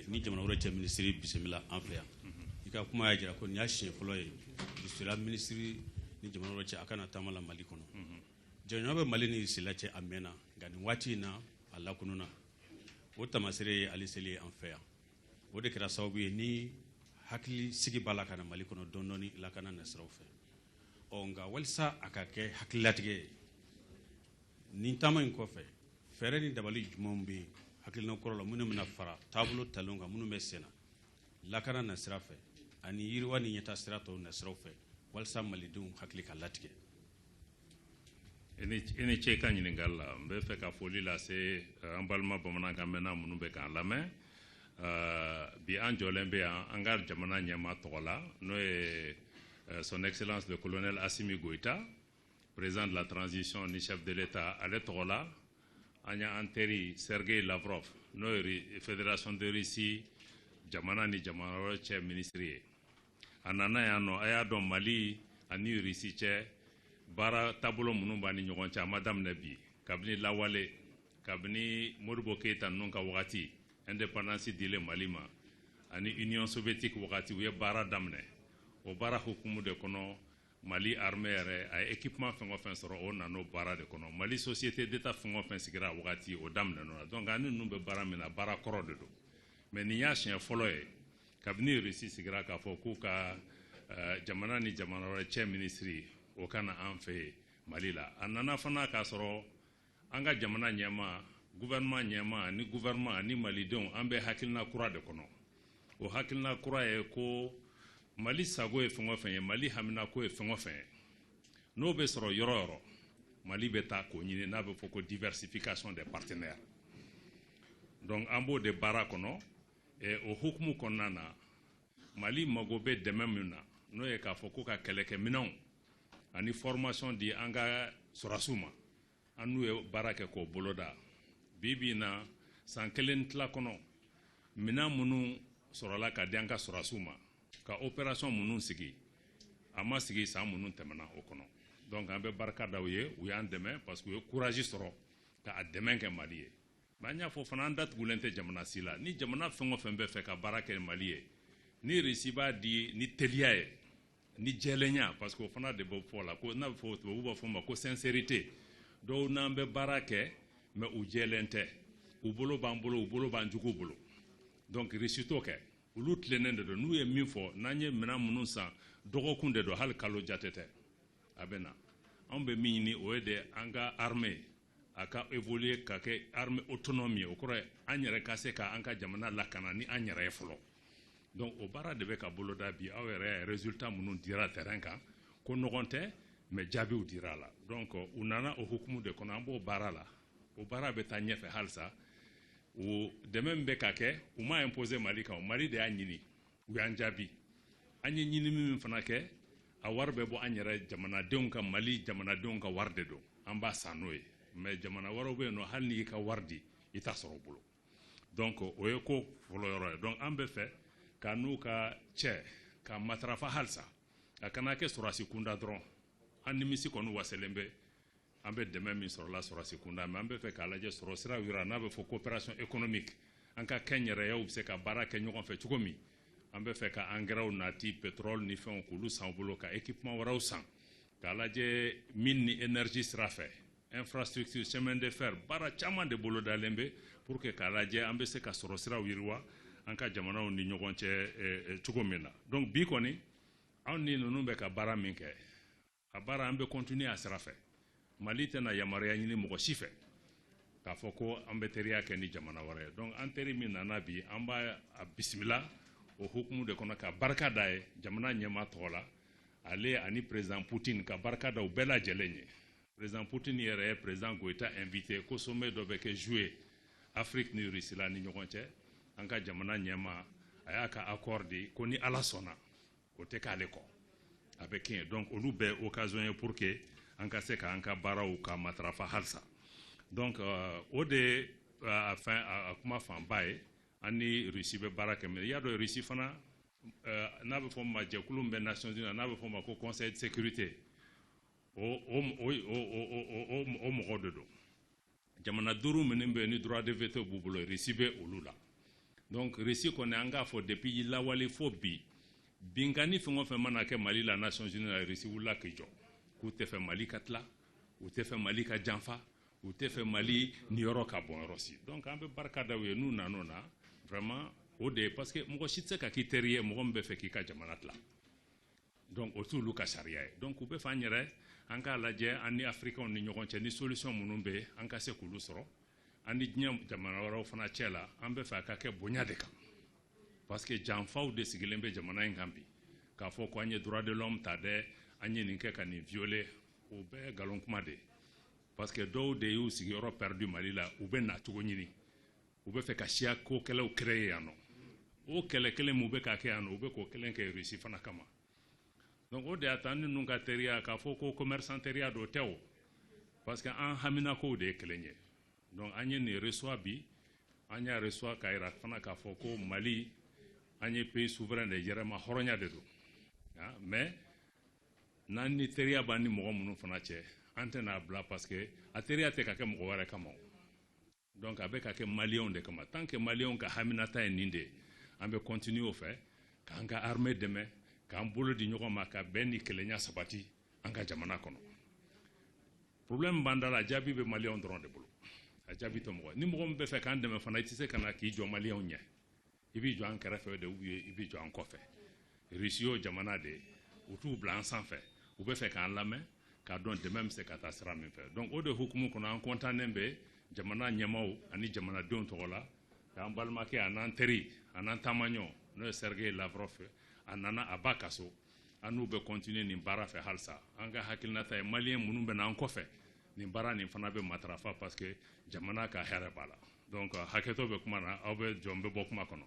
ni jamana wɛrɛ cɛ minisiri bisimila an fɛ yan i ka kuma y'a jira ko nin y'a siɲɛ fɔlɔ ye risila minisiri ni jamana wɛrɛ cɛ a ka na taama la mali kɔnɔ jɛɲɔgɔnya bɛ mali ni risila cɛ a mɛnna nka nin waati in na a lakununna o tamasere ye ale seli ye an fɛ yan o de kɛra sababu ye ni hakilisigi b'a la ka na mali kɔnɔ dɔɔni dɔɔni lakana nasiraw fɛ ɔ nka walisa a ka kɛ hakililatigɛ ye nin taama in kɔfɛ fɛɛrɛ ni dabali jumɛnw bɛ yen hakilina kɔrɔ la minnu bɛna fara taabolo talenw kan minnu bɛ senna lakana nasira fɛ ani yiriwa ni ɲɛtaa sira tɔw nasiraw fɛ walisa malidenw hakili ka latigɛ i ni ce ka ɲininkali la n bɛ fɛ ka foli lase eh, an balima bamanankan mɛnna minnu bɛ k'an lamɛn eh, bi an jɔlen bɛ yan an ka jamana ɲɛmaa tɔgɔ la n'o ye eh, son excellence le colonel asimi goyita président de la transition ni chef de l'État ale tɔgɔ la an y'an teri Sergei Lavrov n'o ye fédération de Russie jamana ni jamana wɛrɛ cɛ minisiri ye a nana yan nɔ a y'a dɔn Mali ani Russie cɛ baara taabolo minnu b'an ni ɲɔgɔn cɛ a ma daminɛ bi kabini lawale kabini Modibo Keyita ninnu ka wagati indépendance dilen Mali ma ani Union soviétique wagati u ye baara daminɛ o baara hukumu de kɔnɔ Mali armée yɛrɛ a ye équipement fɛn o fɛn sɔrɔ o nana o baara de kɔnɔ Mali société d'Etat fɛn o fɛn sigira a wagati o daminɛna o la donc an ni ninnu bɛ baara min na baara kɔrɔ de don mais nin y'a siɲɛ fɔlɔ ye kabini Russie sigira k'a fɔ k'u ka eh, jamana ni jamana wɛrɛ cɛ minisiri o ka na an fɛ yan Mali la a nana fana k'a sɔrɔ An ka jamana ɲɛmaa, gouvernement ɲɛmaa ni gouvernement ani malidenw an bɛ hakilina kura de kɔnɔ. O hakilina kura ye ko Mali sago ye fɛn o fɛn ye, Mali haminako ye fɛn o fɛn ye, n'o bɛ sɔrɔ yɔrɔ o yɔrɔ, Mali bɛ taa k'o ɲini n'a bɛ fɔ ko diversification des partenaires. Donc an b'o de baara kɔnɔ, o hukumu kɔnɔna na, Mali mago bɛ dɛmɛ min na n'o ye k'a fɔ ko ka kɛlɛkɛminɛnw ani formation di an ka sɔrasiw ma an n'u ye baara kɛ k'o boloda bi bi in na san kelen tila kɔnɔ minɛn minnu sɔrɔla ka di an ka sɔrasiw ma ka opération minnu sigi a ma sigi san minnu tɛmɛna o kɔnɔ donc an bɛ barika da u ye u y'an dɛmɛ parce que u ye courage sɔrɔ k'a dɛmɛ kɛ mali ye Mais an y'a fɔ fana an datugulen tɛ jamana si la ni jamana fɛn o fɛn bɛ fɛ ka baara kɛ mali ye ni Russie b'a di ni teliya ye ni jɛlenya parce que o fana de bɛ fɔ la ko n'a bɛ fɔ tubabu b'a fɔ ma ko sincérité dɔw n'an bɛ baara kɛ mais u jɛlen tɛ u bolo b'an bolo u bolo b'an jugu bolo donc Russie t'o kɛ olu tilennen de don n'u ye min fɔ n'an ye minɛn minnu san dɔgɔkun de don hali kalo jate tɛ a bɛ na anw bɛ min ɲini o ye de an ka armée a ka évoluer ka kɛ armée autonome ye o kɔrɔ ye an yɛrɛ ka se ka an ka jamana lakana ni an yɛrɛ ye fɔlɔ donc o baara de bɛ ka boloda bi aw yɛrɛ y'a ye résultat minnu dira terrain kan ko nɔgɔn tɛ mais jaabiw dira a la donc u nana o hukumu de kɔnɔ an b'o baara la o baara bɛ taa ɲɛfɛ halisa o dɛmɛ min bɛ ka kɛ u m'a imposer mali kan mali de y'a ɲini u y'an jaabi an ye ɲinini min fana kɛ a wari bɛ bɔ an yɛrɛ jamanadenw ka mali jamanadenw ka wari de don an b'a san n'o ye mais jamana wɛrɛw bɛ yen nɔ hali n'i ka wari di i t'a sɔrɔ u bolo donc o ye ko fɔlɔ yɔrɔ ye donc an bɛ fɛ k'an n'u ka cɛ ka matarafa halisa a kana kɛ sɔrɔdasi kunda dɔrɔn an nimisi kɔni wasalen bɛ an bɛ dɛmɛ min sɔrɔ la sɔrɔdasi kunda mais an bɛ fɛ k'a lajɛ sɔrɔ sira yɔrɔ n'a bɛ fɔ coopération économique an ka kɛnyɛrɛyew bɛ se ka baara kɛ ɲɔgɔn fɛ cogo min an bɛ fɛ ka angɛrɛw nati pétrole ni fɛnw k'olu san u bolo ka équipement wɛrɛw san k'a lajɛ mine ni énergie sira fɛ infrastructure chemin de fer baara caman de bolodalen bɛ pour que k'a lajɛ an bɛ se ka sɔrɔ siraw yiriwa an ka jamanaw ni ɲɔgɔn cɛ eh, eh, cogo min na donc bi kɔni anw ni ninnu bɛ ka baara min kɛ a baara an bɛ continuer a sira fɛ mali tɛna yamaruya ɲini mɔgɔ si fɛ k'a fɔ ko an bɛ teriya kɛ ni jamana wɛrɛ ye donc an teri min nana bi an b'a bisimila o hukumu de kɔnɔ ka barika da a ye jamana ɲɛmaa tɔgɔ la ale ani président poutine ka barika da u bɛɛ lajɛlen ye président poutine yɛrɛ ye président goïta invité ko sommet dɔ bɛ kɛ juillet afiriki ni rusila ni ɲɔgɔn cɛ an ka jamana ɲɛmaa a y'a ka accord di ko ni ala sɔnna o tɛ k'ale kɔ a bɛ kɛ yen donc olu bɛɛ occasion ye pour que an ka se k'an ka baaraw ka matarafa halisa donc euh, o de euh, a fɛn a kuma fanba ye an ni Russie bɛ baara kɛ mais i y'a dɔn Russie fana euh, n'a bɛ fɔ ma jɛkulu min bɛ Nations Unies n'a bɛ fɔ ma ko Conseil de sécurité o o o o o o mɔgɔ de don jamana duuru minnu bɛ ni droit de veto b'u bolo russie bɛ olu la donc russie kɔni an k'a fɔ depuis lawale fo bi binkanni fɛn o fɛn mana kɛ mali la nations unies la russie wulila k'i jɔ k'u tɛ fɛ mali ka tila u tɛ fɛ mali ka janfa u tɛ fɛ mali niyɔrɔ ka bɔn yɔrɔ si donc an bɛ barika da u ye n'u nan'o na vraiment o de ye parce que mɔgɔ si tɛ se ka k'i teri ye mɔgɔ min bɛ fɛ k'i ka jamana tila donc o t'olu ka sariya ye donc u bɛ f'an yɛrɛ an k'a lajɛ an ni africainw ni ɲɔgɔn cɛ ni solution minnu bɛ an ka se k'olu sɔrɔ an ni diɲɛ jamana wɛrɛw fana cɛ la an bɛ fɛ a ka kɛ bonya de kan parce que janfaw de sigilen bɛ jamana in kan bi k'a fɔ ko an ye droit de l'homme ta dɛ an ye nin kɛ ka nin violer o bɛɛ nkalon kuma de ye parce que dɔw de y'u sigiyɔrɔ perdu mali la u bɛ nacogo ɲini u bɛ fɛ ka siyako kɛlɛw créer yan nɔ o kɛlɛ kelen min u bɛ k'a kɛ yan nɔ u bɛ k'o kelen kɛ Russie fana kama donc o de y'a to an ni ninnu ka teriya k'a fɔ ko commerçant teriya don tɛ o parce que an haminakow de ye kelen ye donc an ye nin reçoit bi an y'a reçoit k'a jira fana k'a fɔ ko Mali an ye pays souverain de yɛrɛmahɔrɔnya de don ah, mais n'an ni teriya b'an ni mɔgɔ minnu fana cɛ an tɛna a bila parce que a teriya tɛ ka kɛ mɔgɔ wɛrɛ kama o Donc a bɛ ka kɛ maliyɛnw de kama tant que maliyɛnw ka haminata ye nin de ye an bɛ continuer o fɛ k'an ka armée dɛmɛ k'an bolo di ɲɔgɔn ma ka bɛn ni kelenya sabati an ka jamana kɔnɔ problème b'an da la a jaabi bɛ maliyɛnw dɔrɔn de bolo a jaabi tɛ mɔgɔ ni mɔgɔ min bɛ fɛ k'an dɛmɛ fana i tɛ se ka na k'i jɔ maliyɛnw ɲɛ i bɛ jɔ an kɛrɛfɛ de ou bien i bɛ jɔ an kɔfɛ Russie y'o jamana de ye u t'u bila an sanfɛ u bɛ fɛ k'an lamɛn k'a dɔn dɛmɛ bɛ se ka taa sira min fɛ donc o de hukumu kɔnɔ an kɔntannen bɛ jamana ɲɛmaaw ani jamanadenw tɔgɔ la k'an balimakɛ a n'an teri a n'an taamaɲɔ n'o ye Sergei Lavrov a nana a ba ka so an n'u bɛ continuer nin baara fɛ halisa an ka hakilinata ye maliyɛn minnu bɛ na an kɔfɛ nin baara nin fana bɛ matarafa parce que jamana ka hɛrɛ b'a la donc hakɛto bɛ kuma na aw bɛ jɔn bɛ bɔ kuma kɔnɔ